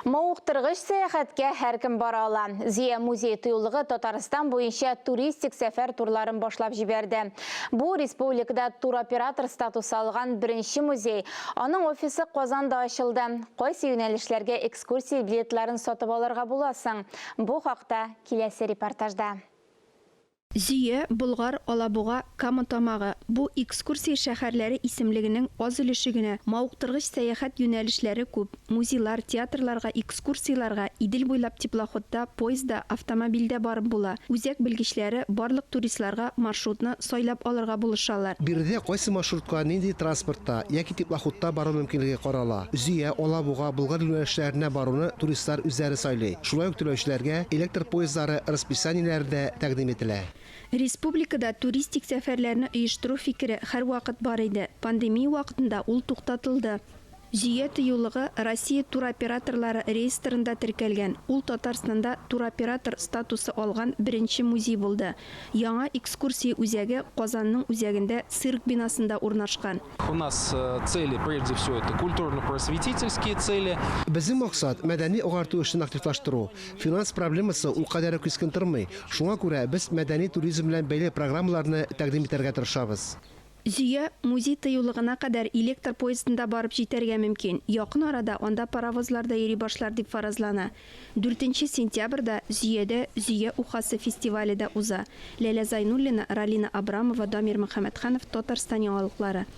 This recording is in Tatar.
Мавыктыргыч сәяхәткә һәркем бара ала. Зөя музее тыюлыгы Татарстан буенча туристик сәфәр турларын башлап җибәрде. Бу, республикада туроператор статусы алган беренче музей. Аның офисы Казанда ачылды. Кайсы юнәлешләргә экскурсия билетларын сатып алырга була соң? Бу хакта киләсе репортажда. Зөя, Болгар, Алабуга, Кама Тамагы, бу экскурсия шәһәрләре исемлегенең аз өлеше генә, мавыктыргыч сәяхәт юнәлешләре күп, музейлар, театрларга экскурсияләргә Идел буйлап теплоходта, поездда, автомобильдә барып була, үзәк белгечләре барлык туристларга маршрутны сайлап алырга булышалар. Биредә кайсы маршрутка нинди транспортта яки теплоходта бару мөмкинлеге карала. Зөя, Алабуга, Болгар юнәлешләренә баруны туристлар үзләре сайлый. Шулай ук түләүчеләргә электр поездлары расписаниеләре дә тәкъдим ителә. Республикада туристик сәфәрләрне оештыру фикере һәрвакыт бар иде, пандемия вакытында ул туктатылды. Зөя тыюлыгы Россия туроператорлары реестрында теркәлгән, ул Татарстанда туроператор статусы алган беренче музей булды. Яңа экскурсия үзәге Казанның үзәгендә цирк бинасында урнашкан. У нас цели прежде всего это культурно-просветительские цели. Безнең максат, мәдәни агарту эшен активлаштыру. Финанс проблемасы ул кадәр үк кискен тормый. Шуңа күрә без мәдәни туризм белән бәйле программаларны тәкъдим итәргә тырышабыз. Зөя, музей тыюлыгына кадәр электр поездында барып җитәргә мөмкин, якын арада анда паровозлар да йөри башлар дип фаразлана. Дүртенче сентябрьдә Зөядә Зөя ухасы фестивале дә уза, Ләлә Зайнуллина, Ралина Абрамова, Дамир Мөхәммәтханов, Татарстан яңалыклары.